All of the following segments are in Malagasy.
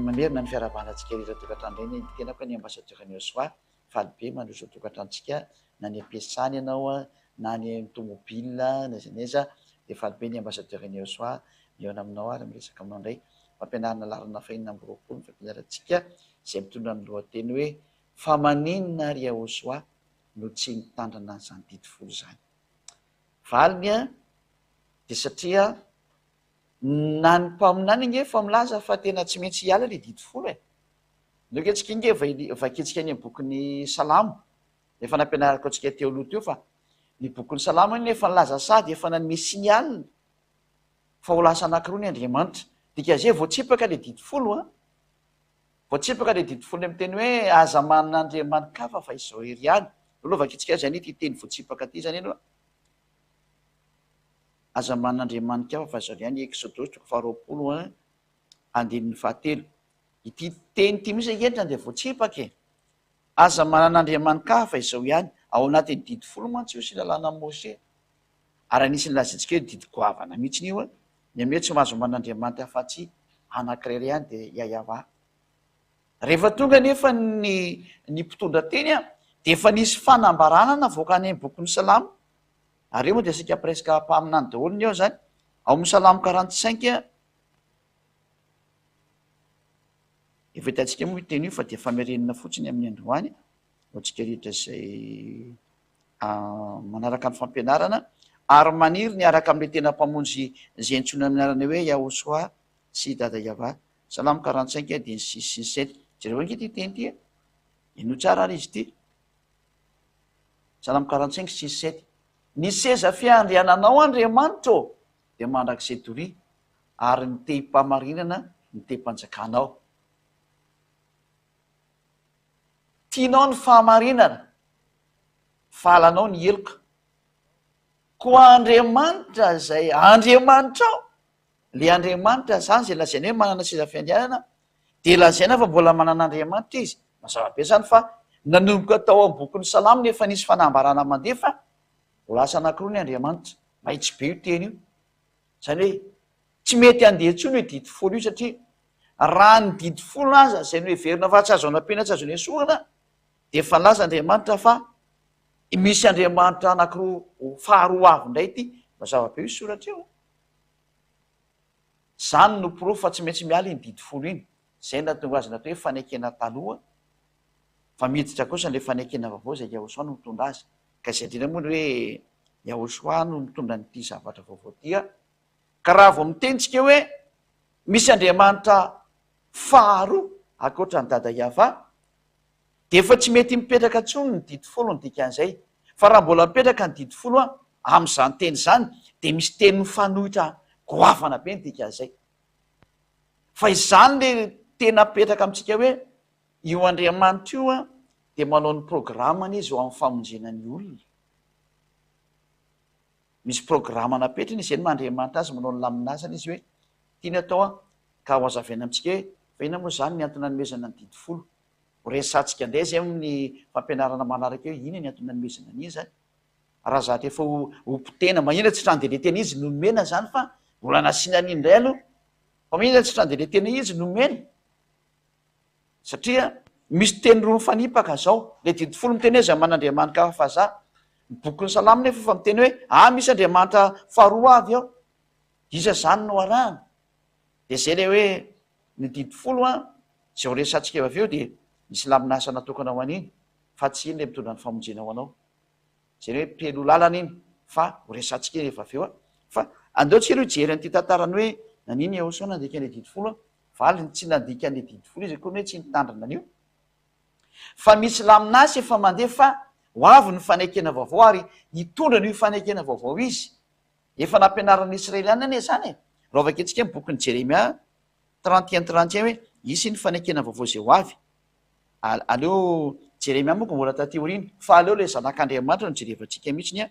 Mamerina ny fiarahabana antsika ireo tokantrano ireny ny tenako ny ambassadeur an'i Yoswa faly be mandroso ny tokantranontsika na any am-piasana ianao na any amin'ny tomobile na aiza na aiza dia faly be ny ambassadeur an'i Yoswa mihaona aminao ary miresaka aminao indray fampianarana laharana fahenina amby roapolo ny fampianarantsika izay mitondra ny lohateny hoe fa maninona ary Yoswa no tsy nitandrina an'izany didy folo izany Valiny a, dia satria na ny mpaminany ange efa milaza fa tena tsy maintsy hiala ilay didy folo e! Nareo ange tsika ange efa vakintsika any amin'ny bokin'ny salamo, efa nampianarako antsika teo aloha teo fa ny bokin'ny salamo anie efa nilaza sady efa nanome signal fa ho lasa anankiroa ny Andriamanitra, dika zay vao tsipaka ilay didy folo a! Voatsipaka ilay didy folo miteny hoe aza manana andriamani-kafa fa izao irery ihany. Aloha vakintsika azy any ity teny voatsipaka ity izany aloha. Aza manana andriamani-kafa fa izao irery ihany, Eksodosy toko faharoapolo a, andininy fahatelo. Ity teny ity mihitsy ange no dia voatsipaka e. Aza manana andriamani-kafa fa izao ihany. Ao anatin'ny didy folo mantsy io sy ny lalànan'i Mosè. Ary anisan'ny lazaintsika hoe didy goavana mihitsy io an! Ny aminay tsy mahazo homana andriamanitra afa-tsy anankiray iray ihany dia Yayava. Rehefa tonga anefa ny ny mpitondra teny an! dia efa nisy fanambarana navoaka any amin'ny bokin'ny salamo, ary eo moa dia saika presque mpaminany daholo ny ao izany, ao amin'ny salamo quarante cinq an! Efa hitantsika moa io teny io fa dia famerenana fotsiny amin'ny androany, ho antsika rehetra izay. manaraka ny fampianarana ary maniry ny hiaraka amin'ilay tena Mpamonjy izay antsoina amin'ny anarana hoe Yahoshuah sy Dada Yavah. Salamo quarante cinq dimy sy sisa sy ny sisa. Jereo ange ity teny ity e. Henoy tsara ary izy ity. Salamo quarante cinq sisa sy sisa. Ny seza fiandriananao Andriamanitra ô dia mandrakizay doria ary ny tehim-pahamarinana ny tehim-panjakanao. Tianao ny fahamarinana, valanao ny heloka. Koa Andriamanitra izay Andriamanitrao, ilay Andriamanitra izany izay lazaina hoe manana seza fiandrianana, dia lazaina fa mbola manana Andriamanitra izy. Mazava be izany fa nanomboka tao amin'ny bokin'ny Salamo no efa nisy fanambarana mandeha fa ho lasa anankiroa ny Andriamanitra. Mahitsy be io teny io. Izany hoe tsy mety handeha intsony io didy folo io satria raha ny didy folo aza izay noheverina fa tsy azo anampiana tsy azo nesorina dia efa nilaza Andriamanitra fa misy Andriamanitra anankiroa ho faharoa avy indray ity mazava be io soratra io. Izany no porofo fa tsy maintsy miala iny didy folo iny. Izay no nahatonga azy natao hoe fanekena taloha. fa miditra kosa ilay fanekena vaovao izay Yahushua no mitondra azy. Ka izay indrindra moa ny hoe Yahushua no mitondra an'ity zavatra vaovao ity an! Ka raha vao miteny tsika hoe misy Andriamanitra faharoa ankoatra an'i Dada Yavah, dia efa tsy mety mipetraka intsony ny didy folo ny dikan'izay. Fa raha mbola mipetraka ny didy folo an! amin'izany teny izany dia misy teny mifanohitra goavana be ny dikan'izay. Fa izany ilay tena mipetraka amintsika hoe Io Andriamanitra io dia manao ny programany izy eo amin'ny famonjena ny olona. Misy programa napetrany izy, izay no maha Andriamanitra azy, manao ny laminazana izy hoe tiany atao an, ka hohazavaina amintsika hoe fa inona moa izany ny antony nanomezana ny didy folo. Horesahantsika indray izay amin'ny fampianarana manaraka eo hoe inona ny antony nanomezana an'iny izany. Raha zatra efa ho ho potehina, maninona tsy tranderia tena izy no nomena izany fa mbola nasiana an'iny indray aloha. Fa maninona tsy tranderia tena izy no nomena? Satria misy teny roa mifanipaka zao, le didy folo miteny hoe zay man'Andriamanitra hafa fa za, ny bokin'ny salamo nefa efa miteny hoe ah misy Andriamanitra faharoa avy ao, iza zany no arahana? de zay le hoe ny didy folo an, zay ho resatsika eo avy eo dia misy laminasa natokana ho an'iny fa tsy iny le mitondra ny famonjena ho anao, zay le hoe pelo lalana iny fa ho resatsika eo avy eo an, fa andeo tsika lo hijery an'ity tantaran'ny hoe nanino i Eosa nandika le didy folo an, Valiny, Tsy nandika an'io didy folo io izy akory hoe tsy nitandrina an'io fa misy laminasy efa mandeha fa ho avy ny fanekena vaovao ary hitondra an'io fanekena vaovao izy. Efa nampianarin'ny Israeliana anie izany e! Raha vakintsika ny bokin'i Jeremia trente et un trente et un hoe hisy ny fanekena vaovao izay ho avy. Aleo Jeremia moa koa mbola taty aoriana fa aleo ilay Zanak'Andriamanitra no jerevantsika mihitsy ny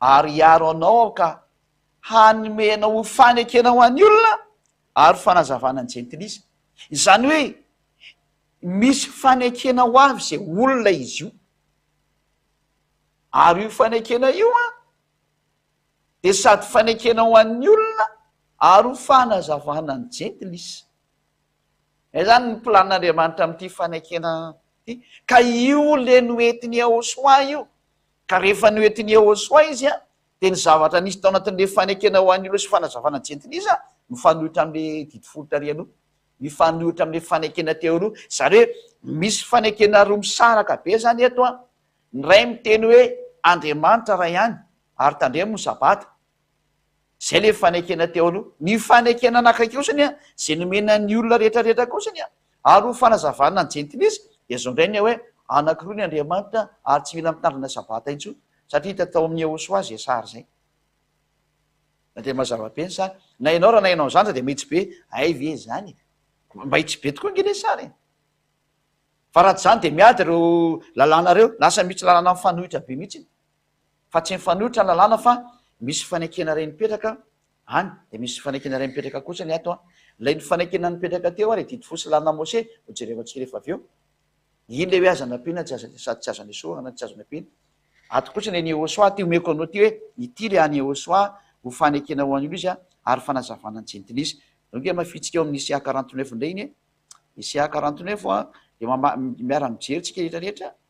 ary hiaro anao aho ka hanome anao fanekena ho an'ny olona ary fanazavana ny jentilisa. Izany hoe, misy fanekena ho avy izay olona izy io. Ary io fanekena io an, dia sady fanekena ho an'ny olona ary ho fanazavana ny jentilisa. Izay izany ny planin'Andriamanitra amin'ity fanekena ity. Ka io ilay noentin'i Yahoshuah io. Ka rehefa noentin'i Yehosua izy, dia ny zavatra nisy tao anatin'ilay fanekena ho an'ireo sy fanazavana jentilisa mifanohitra amin'ilay didy folo tary aloha. Mifanohitra amin'ilay fanekena teo aloha. Izany hoe misy fanekena roa misaraka be izany eto, ny iray miteny hoe Andriamanitra iray ihany ary tandremo ny Sabata, Izay ilay fanekena teo aloha. Ny fanekena anankiray kosa anie, izay nomena ny olona rehetrarehetra kosa anie, ary ho fanazavana ny jentilisa, dia izao indray anie hoe, Anankiroa ny Andriamanitra, ary tsy mila mitandrina Sabata intsony, satria hita tao amin'ny Yehosua izay sary izay. Na dia mazava be ny sary. Na ianao raha nahaino an'izany aza dia mahitsy be, hay ve izany e? Mahitsy be tokoa ange ilay sary e! Fa raha tsy izany dia miady ireo lalàna ireo, lasa misy lalàna mifanohitra be mihitsy. fa tsy mifanohitra ny lalàna fa misy fanekena iray mipetraka any dia misy fanekena iray mipetraka kosa ny ato an, ilay ny fanekena nipetraka teo ary didy fo sy lalina Mose no jerevantsika rehefa avy eo, iny ilay hoe aza nampiana tsy aza sady tsy aza nesorana tsy azo nampiana, ato kosa ny an'i Yehosua ity omeko anao ity hoe ity ilay an'i Yehosua ho fanekena ho an'io izy ary fanazavana ny jentilisa, zao nge hamafintsika eo amin'ny CA quarante neuf indray iny e, ny CA quarante neuf dia miara mijery tsika rehetra rehetra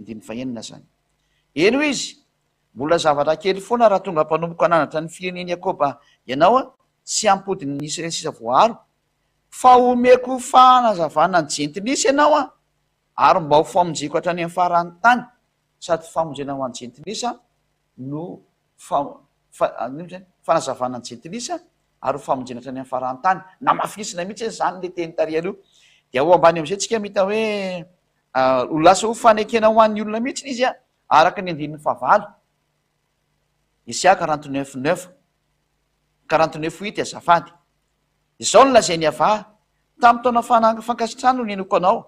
andininy fahenina zany. Eny hoy izy, mbola zavatra kely foana raha tonga mpanompoka ananatra ny firenen'i Yakoba ianao an, tsy hampodin'ny Israely sisa voaaro, fa homeko fanazavana ny jentilisa ianao an, ary mba ho famonjeko hatrany amin'ny faran'ny tany, sady famonjena ho an'ny jentilisa no fanazavana ny jentilisa ary ho famonjena hatrany amin'ny faran'ny tany. Namafisinay mihitsy izany ilay teny tary aloha. Dia ao ambany amin'izay isika mahita hoe ho lasa ho fanekena ho an'ny olona mihitsy izy araka ny andininy fahavalo. Isia quarante neuf neuf, quarante neuf huit azafady. Izao no lazain'i Avah, Tamin'ny taona fankasitrahana no nenoko anao,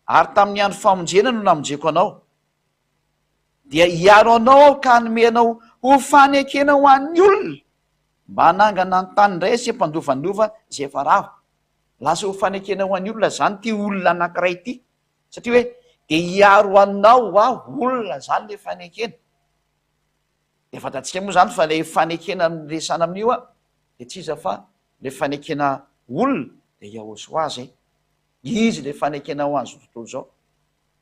ary tamin'ny andro famonjena no namonjeko anao. dia hiaro anao aho ka hanome anao ho fanekena ho an'ny olona mba hanangana ny tany indray asia mpandovanova izay efa rava. Lasa ho fanekena ho an'ny olona izany ity olona anankiray ity, satria hoe dia hiaro anao aho, olona izany ilay fanekena. Dia fantatsika moa izany fa ilay fanekena resahana amin'io a, dia tsy iza fa ilay fanekena olona dia Yahosoa izay. Izy ilay fanekena ho an'izao tontolo izao.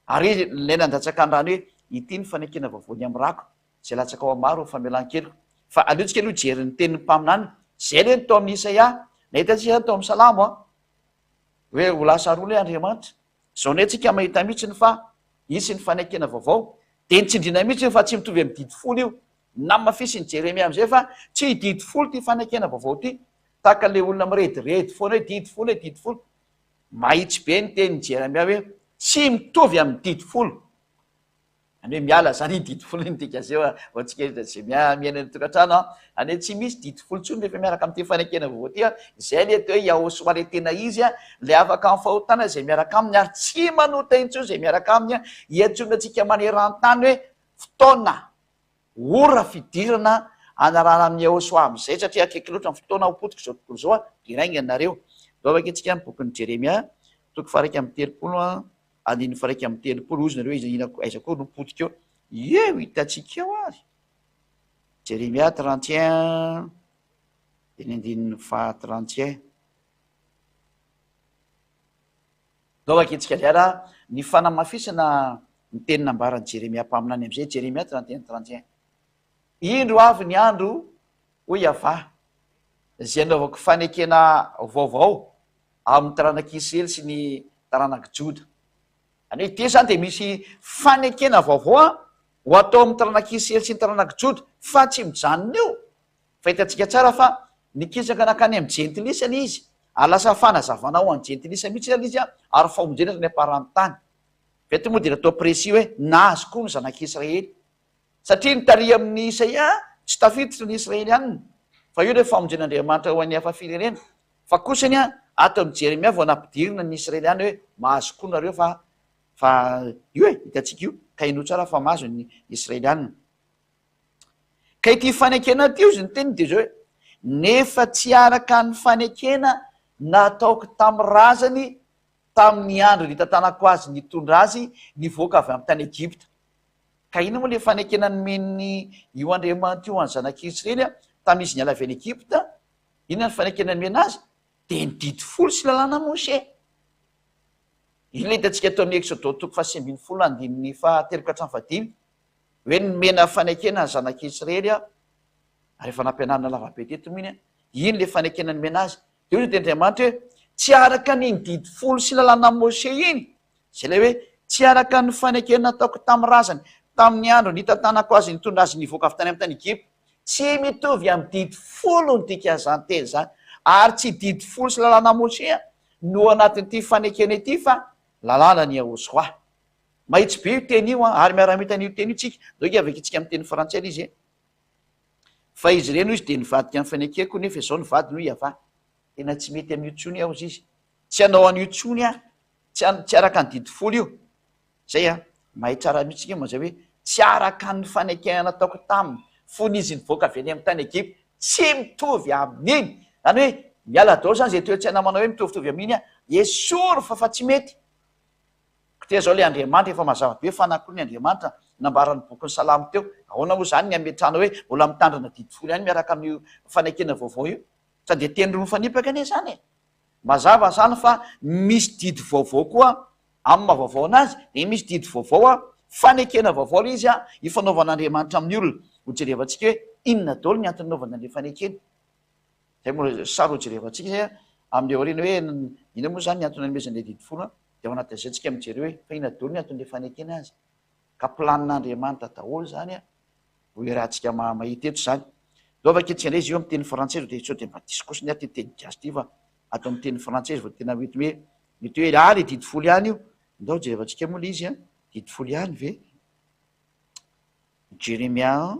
Ary izy ilay nandatsaka ny rany hoe, Ity ny fanekena vaovaon'ny hamirako, izay latsaka ho hamaro ny famelan-keloka. Fa aliontsika aloha hijery ny tenin'ny mpaminany. Izay anie no tao amin'ny Isaia. Nahita antsika izany tao amin'ny Salamo an! Hoe ho lasa rony hoe Andriamanitra. Izao indray tsika mahita mihitsy ny fa hisy ny fanekena vaovao. Dia ny tsindriana mihitsy io fa tsy mitovy amin'ny didy folo io. Namafisin'i Jeremia amin'izay fa tsy didy folo ity fanekena vaovao ity. Tahaka ilay olona mirediredy foana hoe didy folo e, didy folo. Mahitsy be ny tenin'i Jeremia hoe tsy mitovy amin'ny didy folo. Any hoe miala izany iny didy folo iny dika zeo a, vao tsikeritr'i Jemia miaina ny tokantrano a, any hoe tsy misy didy folo intsony rehefa miaraka amin'ity fanekena vaovao ity a, izay ilay atao hoe Yahosoa ilay tena izy a, ilay afaka amin'ny fahotana izay miaraka aminy ary tsy manota intsony izay miaraka aminy a, iantsoana antsika maneran-tany hoe fotoana. Ora fidirana hanarahana amin'i Yehosua amin'izay, satria akaiky loatra ny fotoana ho potika izao tontolo izao. Dia raingina nareo. Izao vake tsika ny bokin'i Jeremia, toko faha-iraika amby telopolo, andininy faha-iraika amby telopolo. Hoy izy nareo, iza, inona, aiza akory no potika eo? Ie, ho hitantsika eo ary. Jeremia trente et un, dia ny andininy faha-trente et un. Izao vakintsika izay raha ny fanamafisana ny teny nambaran'i Jeremia mpaminany amin'izay, Jeremia trente et un, trente et un, Indro avy ny andro, hoy Yavah, izay anaovako fanekena vaovao amin'ny taranak'i Isiraely sy ny taranak'i Joda. Any hoe ity izany dia misy fanekena vaovao ho atao amin'ny taranak'i Isiraely sy ny taranak'i Joda, fa tsy mijanona eo. Fahitantsika tsara fa nikisaka nankany amin'ny jentilisa ilay izy, ary lasa fanazavana ho an'ny jentilisa mihitsy ilay izy ary famonjena hatrany am-paran'ny tany. Veto moa dia natao précis hoe nahazo koa ny zanak'Israely. Satria ny tarihy amin'i Isaia tsy tafiditra ny Israelianina, fa io ilay famonjen'Andriamanitra ho an'ny hafa firenena, fa kosa anie ato amin'i Jeremia vao nampidirina ny Israeliana hoe mahazo koa nareo fa fa io e, hitantsika io, ka henoy tsara fa mahazo ny Israelianina. Ka ity fanekena ity hozy ny teniny dia izao hoe, nefa tsy araka ny fanekena nataoko tamin'ny razany tamin'ny andro nitantanako azy nitondra azy nivoaka avy amin'ny tany Egypta. Ka inona moa ilay fanekena nomen'ny io Andriamanitra io an'ny zanak'i Israely tamin'izy niala avy any Egypta? Inona ny fanekena nomena azy? Dia ny didy folo sy lalàna Mosè. Inona no hitantsika eto amin'ny Eksodo toko fahasivy ambin'ny folo andininy fahatelo ka hatramin'ny fahadimy? hoe nomena fanekena ny zanak'Israely aho, ary efa nampianarina lavabe teto mihiny hoe iny ilay fanekena nomena azy. Dia hoy ny Tenin'Andriamanitra hoe, Tsy araka an'iny didy folo sy lalànan'i Mosè iny, izay ilay hoe tsy araka ny fanekena nataoko tamin'ny razany tamin'ny andro nitantanako azy nitondra azy nivoaka avy tany amin'ny tany Egypta. Tsy mitovy amin'ny didy folo ny dikan'izany teny izany, ary tsy didy folo sy lalànan'i Mosè no ao anatin'ity fanekena ity fa lalànan'i Yahoshuah. Mahitsy be io teny io an, ary miara-mita an'io teny io tsika. Donc hiavaka antsika amin'ny teny frantsay ilay izy e. Fa izy ireny hoy izy dia nivadika amin'ny fanekeko nefa izao ny vadiny hoy Yavah, tena tsy mety amin'io tsony aho hozy izy. Tsy hanao an'io tsony aho, tsy an, tsy araka ny didy folo io. Zay an, mahay tsara mihitsy tsika mazay hoe tsy araka ny fanekena nataoko taminy fony izy nivoaka avy any amin'ny tany Egypta. Tsy mitovy amin'iny. Zany hoe miala daholo zany izay toetsaina manao hoe mitovitovy amin'iny aho. Esory fa fa tsy mety. Kotia izao ilay Andriamanitra, efa mazava be fa na koa ny Andriamanitra nambaran'ny bokin'ny Salamo teo. Ahoana moa izany ny hametrahana hoe mbola mitandrina didy folo ihany miaraka amin'io fanekena vaovao io? Sa dia teny roa mifanipaka anie izany e? Mazava izany fa misy didy vaovao koa amin'ny maha vaovao an'azy, dia misy didy vaovao an, fanekena vaovao ilay izy an, ifanaovan'Andriamanitra amin'ny olona. Hojerevantsika hoe inona daholo ny antony nanaovany an'ilay fanekena. Izay moa no saro hojerevantsika izay amin'ny aoriana hoe inona moa izany ny antony nanomezan'ilay didy folo an? Dia ao anatin'izay isika mijery hoe fa inona daholo ny anton'ilay fanekena azy? Ka planin'Andriamanitra daholo izany an! Ho iarahantsika mahita eto izany. Dao vakia tsika indray izy io amin'ny teny frantsay dia sao dia mba diso kosa ny ahy ity teny gasy ity fa ato amin'ny teny frantsay izy vao tena mety hoe mety hoe ah ilay didy folo ihany io. Ndao jerevantsika moa ilay izy an, didy folo ihany ve? Jeremia an.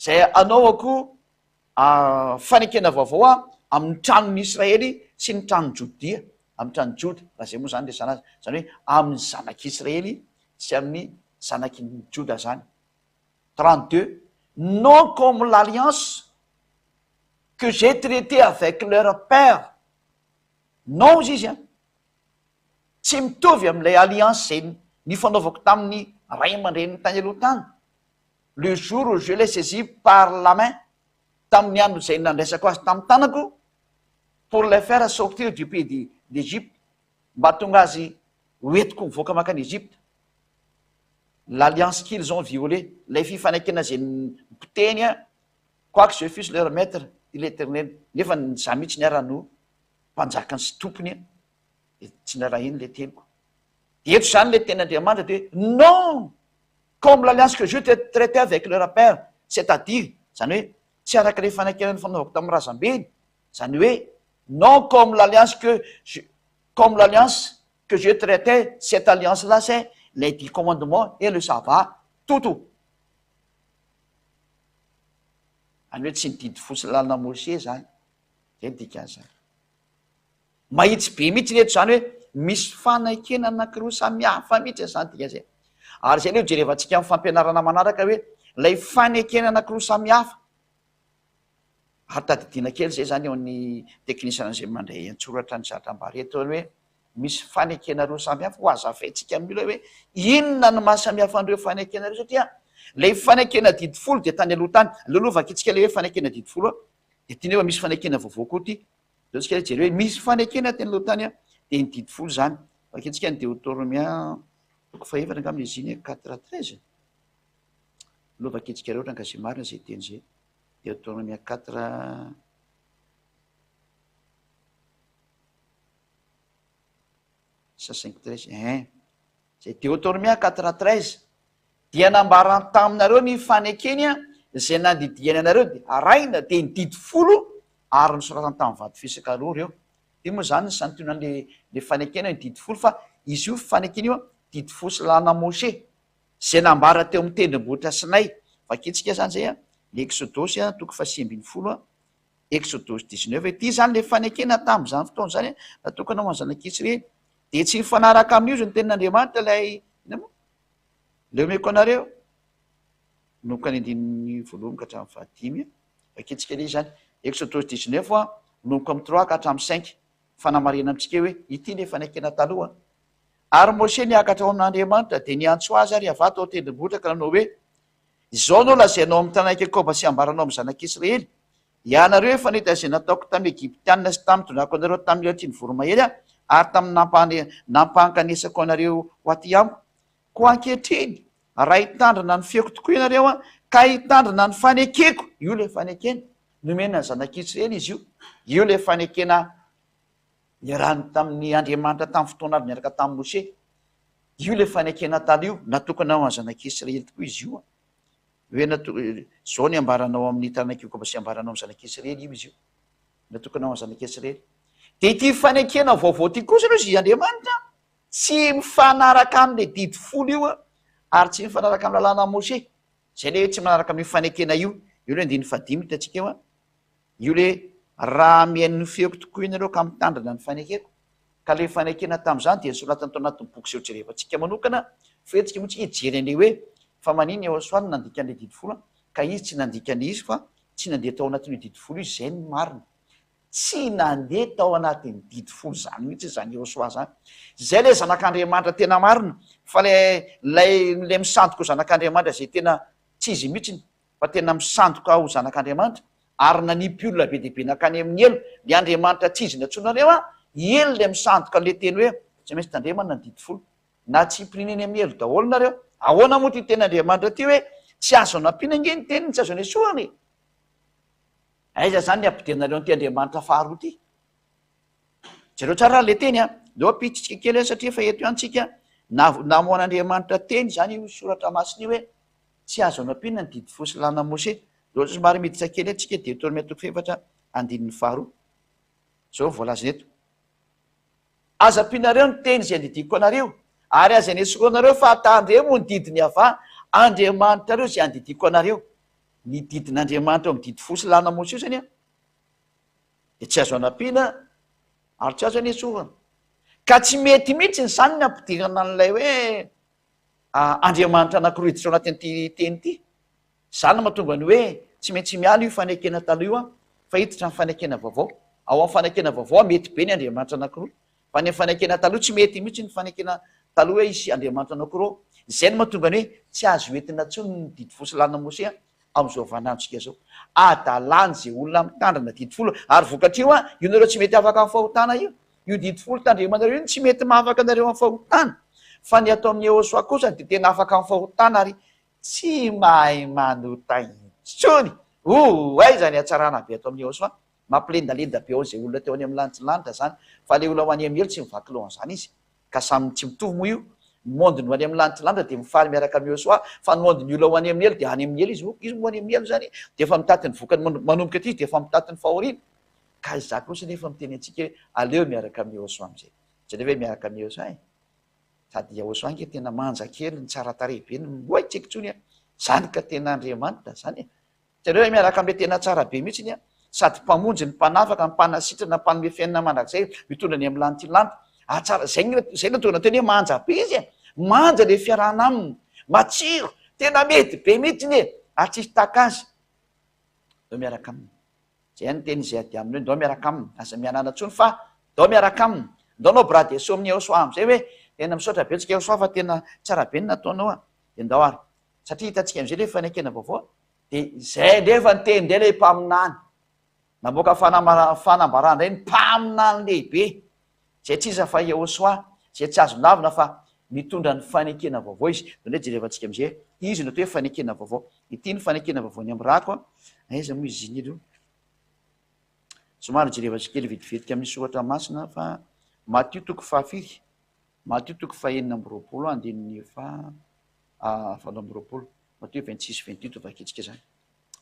izay hanaovako fanekena vaovao aho amin'ny tranon'ny Israely sy ny tranon'i Jodia, amin'ny tranon'i Joda, raha izay moa izany ilay zanazany, izany hoe amin'ny zanak'i Israely sy amin'ny zanak'i Joda izany. 32, Non comme l'alliance que j'ai traitée avec leur père, non hozy izy an, tsy mitovy amin'ilay alliance izay nifanaovako tamin'ny ray aman-dreniny tany aloha tany, le jour où je l'ai saisi par la main, tamin'ny andro izay nandraisako azy tamin'ny tanako, pour le faire sortir du pays de, d'Egypte, mba hahatonga azy hoentiko mivoaka mankany Egypta. L'alliance qu'ils ont violée, ilay fifanekena izay nipotehiny aho, quoique je fusse leur maître, dit l'Eternel, nefa ny izaho mihitsy ny ara no mpanjakany sy tompony an, dia tsy narahiny ilay teniko. Dia eto izany ilay tenin'Andriamanitra dia hoe, non! Comme l'alliance que je te traite avec le rappeur c'est à dire zany hoe tsy araka ilay fanekena nifanaovako tamin'ny razambeny zany hoe non comme l'alliance que je comme l'alliance que je traite cette alliance là c'est les dix commandements et le sabbat toto any hoe tsy ny didy fo sy ny lalana Mosè zany zay ny dikan'izany Mahitsy be mihitsy anie izany hoe misy fanekena anankiroa samy hafa mihitsy izany dika izay. Ary izay anie ho jerevantsika amin'ny fampianarana manaraka hoe ilay fanekena anankiroa samy hafa. Ary tadidiana kely izay izany eo an'ny teknisiana izay mandray an-tsoratra ny zatra ambara eto hoe misy fanekena roa samy hafa, hohazavaintsika amin'ny olona hoe inona no maha samy hafa an'ireo fanekena ireo satria ilay fanekena didy folo dia tany aloha tany. Aleo aloha vakitsika ilay hoe fanekena didy folo dia ity nefa misy fanekena vaovao koa ity. Jereo tsika jereo hoe misy fanekena teny aloha tany dia ny didy folo izany. Vakintsika ny Deotoromia toko fahefatra angamba izy iny quatre à treize. Aloha vakintsika rehetra nga izay marina izay teny izay. Deotoromia quatre Isa cinq treize ein. Izay Deotormia quatre treize. Dia nambarany taminareo ny fanekeny an, izay nandidiany anareo dia arahina dia ny didy folo ary nosoratany tamin'ny vato fisaka roa ireo. Dia moa izany ny santionany le fanekena ny didy folo fa izy io fanekena io an, didy folo sy lalana Moshe, izay nambara teo amin'ny tendrombohitra Sinay. Vakintsika izany izay an, ny Eksodosy an, toko faha sivy ambin'ny folo an. Exodus dix-neuf hoe, ity izany ilay fanekena tamin'izany fotoana izany natokana ho an'ny zanak'Israely, dia tsy mifanaraka amin'io izany tenin'Andriamanitra ilay, inona moa? ilay omeko anareo, manomboka ny andininy voalohany ka hatramin'ny fahadimy an, vakintsika anie izany, Exodus dix-neuf an, manomboka amin'ny trois ka hatramin'ny cinq, fanamarihana amintsika hoe ity ilay fanekena taloha an, ary Mosè niakatra ho an'Andriamanitra dia niantso azy ary Yavah tao an-tendrombohitra ka nanao hoe, Izao no lazainao amin'ny tanàna Iakoba sy ambaranao amin'ny zanak'Israely, 'Hianareo efa nahita izay nataoko tamin'ny Egyptianina sy tamin'ny tondràko anareo tamin'ny latrin'ny voromahery aho ary tamin'ny nampankanesako anareo ho aty amiko. Koa ankehitriny, raha hitandrina ny feoko tokoa ianareo ka hitandrina ny fanekeko, io ilay fanekena nomena ny zanak'Israely izy io, io ilay fanekena niarahany tamin'ny Andriamanitra tamin'ny fotoana avy niaraka tamin'i Mosè, Io ilay fanekena taloha io, natokana ho an'ny zanak'Israely tokoa izy io. Hoe nato- izao ny ambaranao amin'ny taranak'i Jakoba sy ambaranao amin'ny zanak'Israely io izy io. Natokana ho an'ny zanak'Israely. Dia ity fanekena vaovao ity kosa aloha izy Andriamanitra tsy mifanaraka amin'ilay didy folo io ary tsy mifanaraka amin'ny lalànan'i Mosè. Izay ilay hoe tsy manaraka amin'io fanekena io. Io ilay andininy fahadimy no hitantsika eo an. Io le raha mihaino ny feoko tokoa ianareo ka mitandrina ny fanekeko, ka le fanekena tamin'izany dia nosoratana tao anatin'ny boky seho jerevantsika manokana, foentika moa tsika hijery an'le hoe fa manin i Aosoa no nandika an'le didy folo ka izy tsy nandika an'le izy fa tsy nandeha tao anatin'io didy folo io, izay no marina. Tsy nandeha tao anatin'ny didy folo zany mihitsy zany i Aosoa zany. Zay le zanak'Andriamanitra tena marina, fa le lay le misandoka ho zanak'Andriamanitra zay tena tsy izy mihitsiny fa tena misandoka ho zanak'Andriamanitra, ary nanipy olona be dia be nankany amin'ny helo, dia Andriamanitra tsy izy nantsoinareo an, i helo ilay misandoka an'ilay teny hoe tsy maintsy tandremana ny didy folo, na tsy himpirina eny amin'ny helo daholo nareo, ahoana moa ity teny Andriamanitra ity hoe tsy azo anampiana ange ny teniny, tsy azo anesorana e! Aiza zany ny apodenareo an'ity Andriamanitra faharoa ity? Jereo tsara ary ilay teny an, aleo ampihitsitsika kely an satria efa eto ihany tsika, namoan'Andriamanitra teny izany io soratra masina io hoe Tsy azo anampiana ny didy folo sy lalàna Mosè. Zao somary miditra kely antsika Deotoromia toko fahefatra andininy faharoa. Zao voalazany eto. Aza ampianareo ny teny izay andidiako anareo, ary aza enesoroanareo fa tandremo ho ny didin'i Yavah, Andriamanitrareo izay andidiako anareo. Ny didin'Andriamanitra ao amin'ny didy folo sy lalàna Mosè io zany dia tsy azo anampiana ary tsy azo enesorana. Ka tsy mety mihitsy izany ny ampidirana an'ilay hoe Andriamanitra anankiroa hiditra ao anatin'ity teny ity. Izany no mahatonga ny hoe tsy maintsy miala io fanekena taloha io fa hiditra amin'ny fanekena vaovao. Ao amin'ny fanekena vaovao mety be ny andriamanitra anankiroa, fa any amin'ny fanekena taloha tsy mety mihitsy ny fanekena taloha hoe hisy andriamanitra anankiroa ao. Izay no mahatonga ny hoe tsy azo entina intsony ny didy fo sy lalana Mosesy amin'izao vaninandrontsika izao. Adalan' izay olona mitandrina didy folo ary vokatr'io an, io nareo tsy mety afaka amin'ny fahotana io. Io didy folo tandremanareo io no tsy mety mahafaka anareo amin'ny fahotana. Fa ny ato amin'ny Ehosoa kosa dia tena afaka amin'ny fahotana ary tsy mahay manota intsony. Ooh, aiza ny hatsarana be ato amin'ny Ehosoa? Mampilendalenda be ao izay olona teo any amin'ny lanitry ny lanitra izany fa ilay olona ao any Amiely tsy mivaky loha an'izany izy ka samy tsy mitovy moa io ny monde ny any amin'ny lanitry ny lanitra dia mifaly miaraka amin'i Iosoa fa ny monde ny olona ao any Amiely dia any Amiely izy oh izy moa any Amiely izany dia efa mitaty ny vokany man manomboka aty izy dia efa mitaty ny fahoriany ka izaho kosa nefa miteny antsika hoe aleo miaraka amin'i Iosoa amin'izay jereo ve miaraka amin'i Iosoa eh sady Iosoa ange tena manja kely ny tsara tarehy be ny oay tsy haiko intsony eh izany ka tena Andriamanitra izany eh Jereo ilay miarakambe tena tsara be mihitsy a! Sady mpamonjy ny mpanafaka, mpanasitrana, mpanome fiainana mandrakizay, mitondra ny amin'ny lantilanty. Ah tsara, zay ny zay no tokony hatao, manja be izy e! Manja le fiarahana aminy, matsiro, tena mety be mihitsy e! Ary tsisy taka azy. Ndao miaraka aminy. Zay ihany ny teny izay ady aminy hoe ndao miaraka aminy, aza mihanala intsony fa ndao miaraka aminy. Ndao anao bras dessus amin'i Yehosoa amin'izay hoe tena misaotra betsaka Yehosoa fa tena tsara be ny nataonao a! Dia ndao ary. satria hitantsika amizay le fanekena vaovao de zay ndray efa niteny ndray le mpaminany namoaka fanambarana fanambarana ndray ny mpaminany lehibe zay tsy iza fa Yehosoa zay tsy azo lavina fa mitondra ny fanekena vaovao izy zany hoe jerevantsika amizay izy no atao hoe fanekena vaovao ity ny fanekena vaovao ny amirato a aiza moa izy ziny aloha somary jerevantsika kely vetivetika amin'ny soratra masina fa Matio toko fahafiry Matio toko fahenina amby roapolo andininy faha valo amby roapolo, Matio vingt six vingt huit vakintsika izany,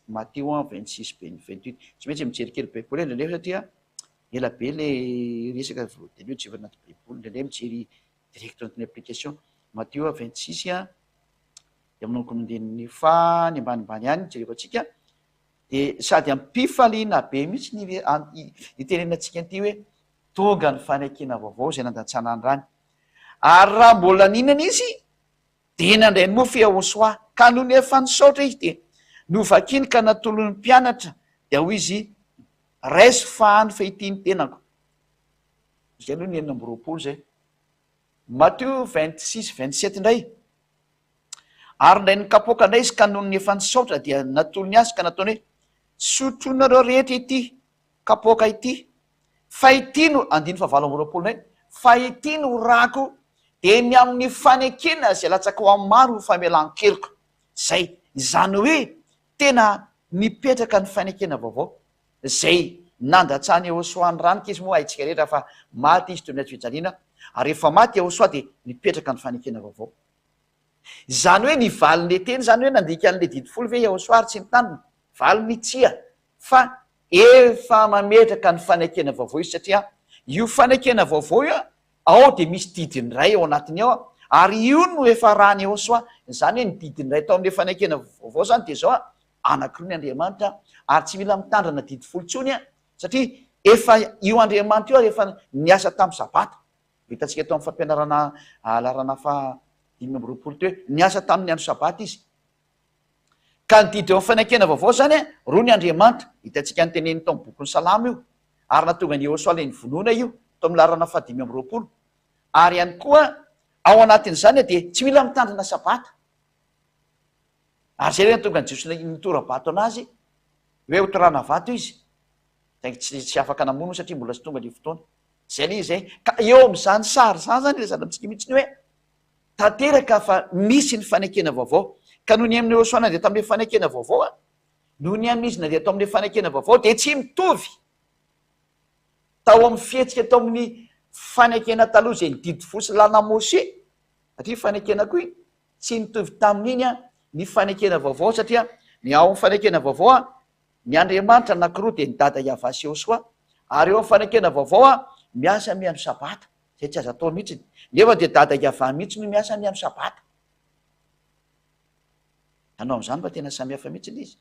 Matio an vingt six vingt huit, tsy maintsy mijery kely baiboly indray indray satria ela be le resaka vao de aleo jereo anaty baiboly indray indray mijery direct anaty ny application, Matio an vingt six dia manomboka amin'ny andininy faha ny ambanimbany any jerevantsika dia sady ampifaliana be mihitsy ny itenenantsika an'ity hoe Tonga ny fanekena vaovao izay nandatsana andrany. Ary raha mbola nihinana izy dia nandray mofo Yahoshuah. Ka nony efa nisaotra izy dia novakiny ka natolony ny mpianatra dia hoy izy, Raiso faha ny fehitin'ny tenako. Izay aloha ny enina amby roapolo izay. Matthieu vingt six vingt sept indray, Ary indray nikapoaka indray izy ka nony efa nisaotra dia natolony azy ka nataony hoe, Sotroinareo rehetra ity Kapoaka ity, fa ity no, andininy fahavalo amby roapolo nay, fa ity no rako, dia ny amin'ny fanekena izay latsakao amin'ny maro ho famelan-keloka. Izay. Izany hoe tena nipetraka ny fanekena vaovao, izay nandatsah'i Iehosoa ny rany, k'izy moa haintsika rehetra fa maty izy teo ny hatsofijaliana, ary rehefa maty Iehosoa dia nipetraka ny fanekena vaovao. Izany hoe ny valin'le teny izany hoe nandika an'le didy folo ve Iehosoa ary tsy nitanina? Valiny, Tsia, fa efa mametraka ny fanekena vaovao izy satria io fanekena vaovao io ao dia misy didiny iray ao anatiny ao ary io no efa arahany ao soa izany hoe ny didiny iray tao amin'ilay fanekena vaovao izany dia izao anankiroa ny andriamanitra ary tsy mila mitandrina didy folo intsony a satria efa io andriamanitra io ary efa niasa tamin'ny sabata hitantsika tao amin'ny fampianarana alarana fa dimy amby roapolo teo niasa tamin'ny andro sabata izy Ka ny didy eo amin'ny Fanakiana Vaovao izany, roa ny Andriamanitra, hitantsika ny teneniny tao amin'ny bokin'ny Salamo io, ary natongan'i Iehosoa ilay nivonona io, tao amin'ny laharana fahadimy amby roapolo. Ary ihany koa, ao anatin'izany dia tsy mila mitandrina Sabata. Ary izay ilay nahatonga an'i Jesoa nitora-bato an'Azy, hoe hotorana vato Izy, saingy tsy tsy afaka namono satria mbola tsy tonga ilay fotoana. Izay ilay izy e. Ka eo amin'izany sary izany izany ilay zava-misy mihitsy hoe. tanteraka fa misy ny fanekena vaovao, ka noho ny amin'i Iosoa na dia tamin'ilay fanekena vaovao ary noho ny amin'izy na dia tao amin'ilay fanekena vaovao dia tsy mitovy tao amin'ny fihetsika tao amin'ny fanekena taloha izay ny didy fo sy lalana Mosè, satria iny fanekena koa iny tsy nitovy tamin'iny ny fanekena vaovao satria ny ao amin'ny fanekena vaovao ny Andriamanitra anankiroa dia ny Dada Iavah sy Iosoa ary eo amin'ny fanekena vaovao miasa mihaino Sabata. Izay tsy azo atao mihitsiny. Nefa dia dada Yavah mihitsy no miasa ny andro sabata. Ianao amin'izany fa tena samihafa mihitsy ilay izy.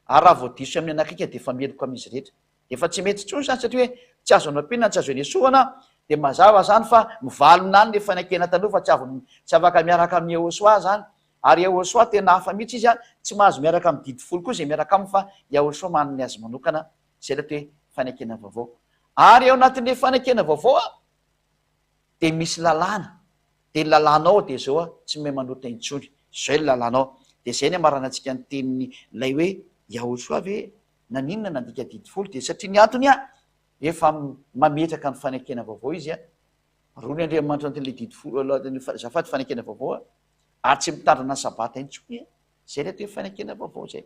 Ary raha vao diso sy amin'ny anak'ika dia efa meloka amin'izy rehetra. Efa tsy mety intsony izany satria hoe tsy azo anampiana na tsy azo enesoana dia mazava izany fa mivalona any ilay fanekena taloha fa tsy avy tsy afaka miaraka amin'i Yahoshuah izany. Ary Yahoshuah tena hafa mihitsy izy an, tsy mahazo miaraka amin'ny didy folo koa izay miaraka aminy fa Yahoshuah manana ny azy manokana Izay ilay hoe fanekena vaovao. Ary ao anatin'ilay fanekena vaovao a, dia misy lalàna. Dia ny lalàna ao dia izao a, tsy mahay manota intsony. Izay ny lalàna ao. Dia izay ny hamarana antsika ny tenin'ilay hoe Yahosoa ve naninona nandika didy folo dia satria ny antony a, efa mametraka ny fanekena vaovao izy a, roa ny Andriamanitra ao anatin'ilay didy folo, ao anatin'ny azafady fanekena vaovao a, ary tsy mitandrina ny sabata intsony a. Izay ilay hoe fanekena vaovao izay.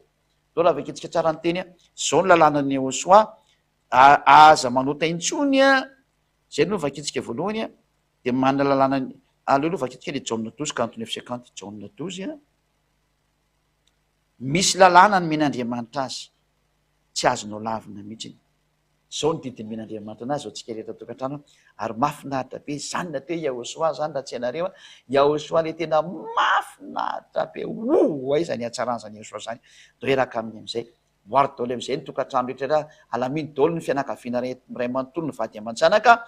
Zao raha vakintsika tsara ny teny, zao ny lalànan'i Yehosua, aza manota intsony, zay aloha no vakintsika voalohany, dia manana lalàna, aleo aloha vakintsika le Jaona douze quarante neuf cinquante, Jaona douze an, misy lalàna nomen'Andriamanitra azy, tsy azonao lavina mihitsy. Izao no didimen'Andriamanitra anazy izao tsika rehetra tokantrano ary mafinaritra be zany na teo Yahoshua zany raha tsy hainareo a, Yahoshua le tena mafinaritra be ooh aiza ny hatsaran zany Yahoshua zany, reraka aminy amizay voary daholo amizay ny tokantrano rehetra ra alamino daholo ny fianakaviana ray manontolo ny vady aman-janaka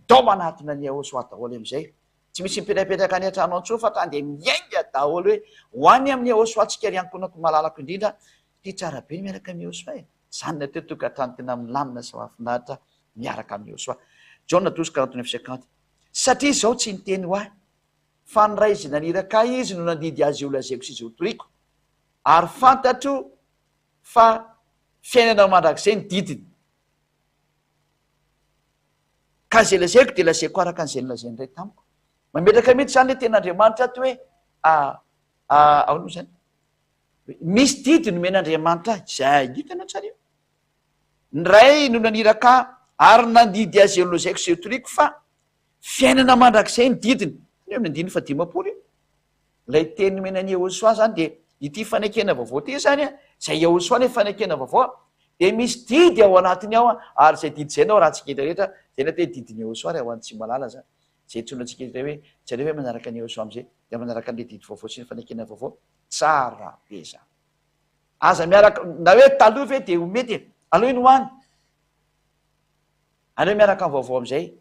dao manatona an'i Yahoshua daholo amizay tsy misy mipetrapetraka any antrano antsony fa tany dia miainga daholo hoe ho any amin'i Yahoshua tsika ry ankonako malalako indrindra ty tsara be ny miaraka amin'i Yahoshua e. Izany ny atety tokantrano tena milamina sy mahafinaritra miaraka amin'i Yôsoa. Jaona toa sokaranto ny fisekanty. Satria izao tsy niteny ho ahy, fa ny Ray izay naniraka ahy izy no nandidy azy io lazaiko sy izay hotoriako. Ary fantatro fa fiainana mandrakizay ny didiny. Ka izay lazaiko dia lazaiko araka an'izay nolazain'ny Ray tamiko. Mametraka mihitsy izany ilay tenin'Andriamanitra ato hoe, a, a, ahoana moa izany? Misy didy nomen'Andriamanitra ahy, izay ahy. Hitanao tsara io? Ny Ray no naniraka ahy ary nandidy azy eo nolazaiko sy eo toriako fa fiainana mandrakizay ny didiny. Hitanao eo amin'ny andininy fahadimampolo io? Ilay teny nomen'i Yehosua izany dia ity fanekena vaovao ity izany, izay Yehosua ilay fanekena vaovao, dia misy didy ao anatiny ao ary izay didy izay no arahantsika indray rehetra, izay ny atao hoe didin'i Yehosua ary hoan'ny tsy mahalala izany, izay antsoina antsika indray hoe, jereo ve manaraka an'i Yehosua amin'izay dia manaraka an'ilay didy vaovao sy ny fanekena vaovao? Tsara be zany. Aza miaraka na hoe taloha ve dia ho mety e. Aleo iny ho any. Aleo miaraka amin'ny vaovao amin'izay.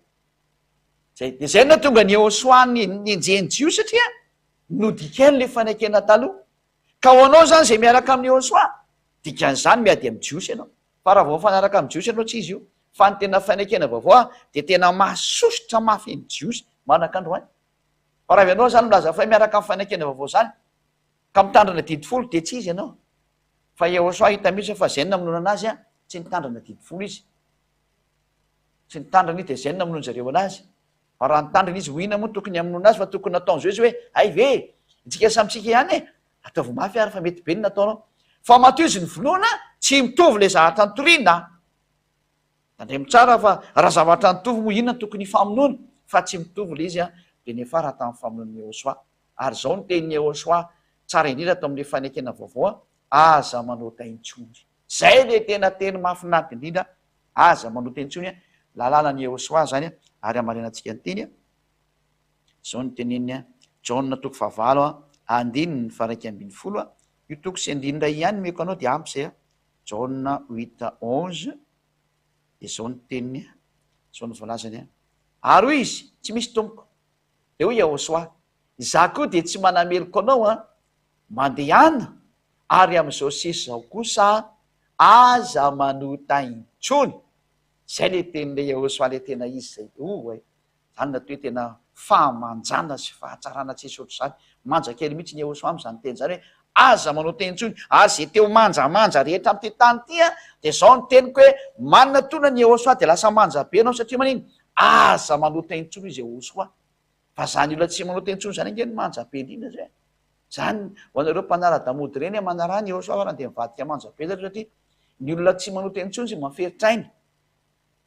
Zay. Dia zay no tonga an'i Yehosua nenjehin'i Jiosy satria nodikany ilay fanekena taloha. Ka ho anao izany izay miaraka amin'i Yehosua, dikan'izany miady amin'ny Jiosy ianao. Fa raha vao mifanaraka amin'ny Jiosy ianao tsy izy io. Fa ny tena fanekena vaovao dia tena mahasosotra mafy ny Jiosy manaka androany. Fa raha avy ianao izany milaza fay miaraka amin'ny fanekena vaovao izany, ka mitandrina ny Adidy folo, dia tsy izy ianao. Fa Yehosua hita mihitsy fa Zen namonoana anazy an, tsy nitandrina ny Adidy folo izy. Tsy nitandrina izy dia Zen namonoana zareo anazy. Fa raha nitandrina izy, ho inona moa no tokony hamonoana azy fa tokony nataon'izy ireo izy hoe, hay ve e, isika samy isika ihany e, ataovy mafy ary fa mety be ny nataonao. Fa matoa izy novonoina, tsy mitovy ilay zahatra nitoriana. Tandremo tsara fa raha zavatra nitovy moa inona no tokony hifamonoana fa tsy mitovy ilay izy an, dia niafara tamin'ny famonoan'i Yehosoa. Ary izao no tenin'i Yehosoa tsara indrindra tao amin'ilay fanekena vaovao an, Aza manota intsony. Izay ilay tena teny mahafinaritra indrindra, Aza manota intsony an, lalànan'i Yehosoa izany an, ary hamarinantsika ny teny an, izao no teneniny an, Jaona toko fahavalo andininy faraika ambin'ny folo an, io toko sy andininy iray ihany no omeko anao dia ampy izay an, Jaona huit à onze, dia izao ny teniny, izao no voalazany, Ary hoy izy, Tsy misy, Tompoko. Dia hoy Iahosoa, Izaho koa dia tsy manameloka anao, mandehana, ary amin'izao sisa izao kosa aza manota intsony. Izay ilay tenin'ilay Iahosoa ilay tena izy izay. Oa e! Valina toa hoe tena fahamanjana sy fahatsarana tsy esory izany. Manja kely mihitsy ny Yehosua amin'izany teny izany hoe, Aza manao teny intsony, ary izay te ho manjamanja rehetra amin'ity tany ity, dia izao ny teniko hoe, Manina toa ny Yehosua dia lasa manja be ianao, satria manino? Aza manao teny intsony, hoy izy Yehosua. Fa izany olona tsy manao teny intsony izany ange no manja be indrindra izay. Izany ho anareo mpanara-damody ireny hoe manaraha an'i Yehosua farany dia mivadika manja be zareo satria ny olona tsy manao teny intsony sy maferitra aina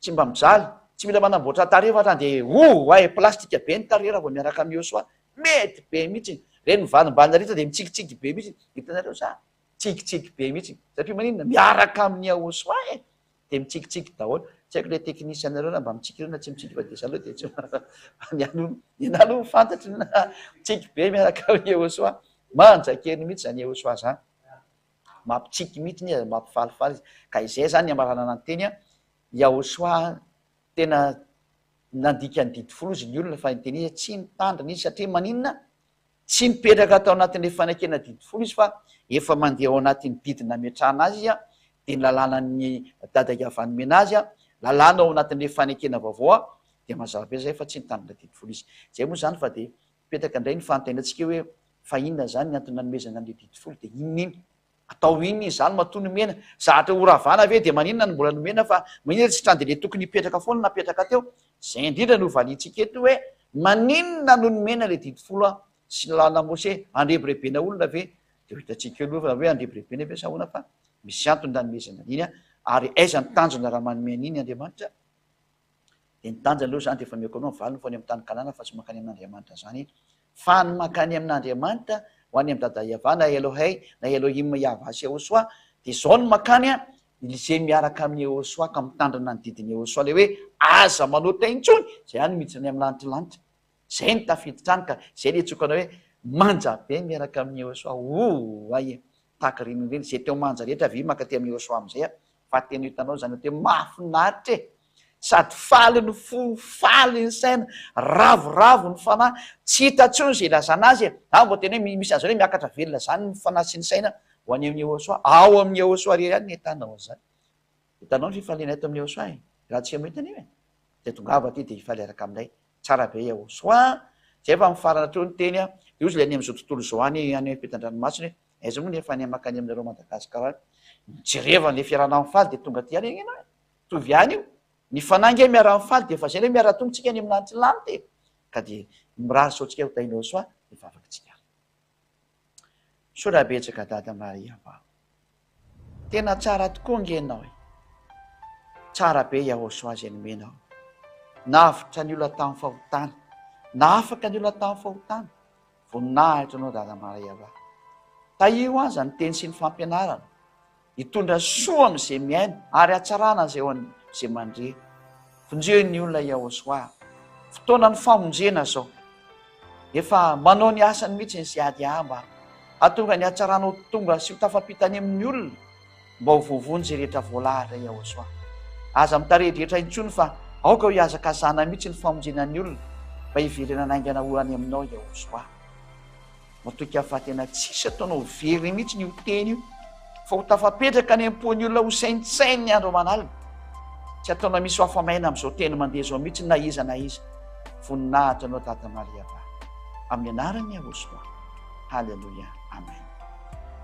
Tsy mba mijaly, tsy mila manamboatra tarehy fa hatrany dia oh ay plastika be ny tarehy raha vao miaraka amin'ny Yosua, mety be mihitsy, ireny mivalombalona ireny sao dia mitsikitsiky be mihitsy, hitanareo sa? mitsikitsiky be mihitsy, satria maninona? miaraka amin'ny Yahosoa e! dia mitsikitsiky daholo, tsy haiko ilay technicien nareo raha mba mitsiky ireo na tsy mitsiky fa dia zany aloha dia tsy fa ny ahy aloha, ny ahy aloha fantatro ny ahy, mitsiky be miaraka amin'i Yahosoa, manja kely mihitsy izany Yahosoa izany. Mampitsiky mihitsy izy ary mampifalifaly izy. Ka izay izany ny hamaranana ny teny an! Yahoshua an! Tena nandika ny didy folo izy ny olona fa ny teny izy tsy mitandrina izy satria maninona? Tsy mipetraka tao anatin'ilay fanekena didy folo izy fa efa mandeha ao anatin'ny didy nametrahana azy izy an! Dia ny lalànan'ny Dada Yahavah nomena azy an! Lalàna ao anatin'ilay fanekena vaovao an! Dia mazava be izay fa tsy nitandrina didy folo izy. Izay moa izany fa dia Mipetraka indray ny fanontaniantsika hoe fa inona izany ny antony nanomezana an'ilay didy folo dia inona iny? Atao inona izy izany matoa nomena? Zatra ho ravana ve dia maninona no mbola nomena fa maninona tsy trany dia ilay tokony hipetraka foana no napetraka teo? Izay indrindra no valiantsika eto hoe maninona no nomena ilay didy folo sy ny lalana Mose? Handrebirebena olona ve? Dia ho hitantsika eo aloha hoe handrebirebena ve sa ahoana fa misy antony nanomezana an'iny ary aiza ny tanjona raha manome an'iny Andriamanitra? Dia ny tanjany aloha izany dia efa omeko anao ny valiny fa ho any amin'ny tany Kanana fa tsy mankany amin'Andriamanitra izany eto. Fa ny mankany amin'Andriamanitra, ho any amin'i Dada Iavah na Elohey na Elohim Iavah sy Yehosua, dia izao no mankany an, izay miaraka amin'i Yehosua ka mitandrina ny didin'i Yehosua ilay hoe, Aza manota intsony izay hany miditra any amin'ny lanitry lanitra. Izay no tafiditra any ka izay ilay tsioka anao hoe, Manja be miaraka amin'i Yehosua. Ooh! Hay e! Tahaka ireny indrindra izay teo manja rehetra ve maka aty amin'i Yosua amin'izay a! Fa tena hitanao izany hoe tena mahafinaritra e! Sady faly ny fo, faly ny saina, ravoravo ny fanahy, tsy hita intsony izay ilazana azy e! Aho mba tena hoe misy an'izany hoe miakatra velona izany ny fanahy sy ny saina ho any amin'i Yosua. Ao amin'i Yosua irery ihany ny ahitana an'izany. Hitanao ny fifalianay ato amin'i Yosua e! Raha antsika no hita anie e! Dia tongava aty dia hifaly araka aminay Tsara be Yehoswa a! Zay efa mifarana teo ny teny a! De ozy le any amzao tontolo zao any any ampitandranomasina e! Aiza moa ny efa any makany aminareo Madagascar any? Mijerevan le fiarahana mifaly de tonga aty any ngah e! Mitovy ihany io! Ny fanahy ngah miaraha mifaly de efa zay ngah miaraha tonga tsika any amin'Andrilanitra e! Ka de mirary sao tsika ho tahin'Yehoswa ny vavakitsika ary. Misaotra betsaka Dada Maria fa tena tsara tokoa nge ianao e! Tsara be Yahoshuah izay nomenao. Navotra ny olona tamin'ny fahotana, nahafaka ny olona tamin'ny fahotana. Voninahitra anao Dada Maria fa tahio aza ny teny sy ny fampianarana. Hitondra soa amin'izay miaina ary hatsarana azy eo amin'izay mandre. Vonjeo ny olona i Yahoshuah. Fotoanan'ny famonjena izao. Efa manao ny asany mihitsy ny CADA mba hahatonga ny hatsarana ho tonga sy ho tafampita any amin'ny olona mba ho voavonjy izay rehetra voalahatra i Yahoshuah. Aza mitarihedrehetra intsony fa aoka ho hihazakazahana mihitsy ny famonjena ny olona mba hiverenana haingana ho any aminao i Yahoshuah. Matokia fa tena tsisy ataonao very mihitsy io teny io fa ho tafapetraka any am-pon'ny olona ho saintsainy ny andro aman'alina. Tsy ataonao misy ho afa-maina amin'izao teny mandeha izao mihitsy na iza na iza. Voninahitra anao Tata Maria Ba. Amin'ny anaran'i Yahosua. Haleloia. Amen.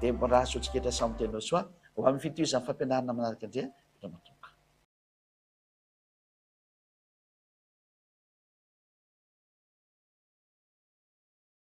Deborah Sotsiketra Samy Tenao Soa ho amin'ny fitohizan'ny fampianarana manaraka indray Ramatoa.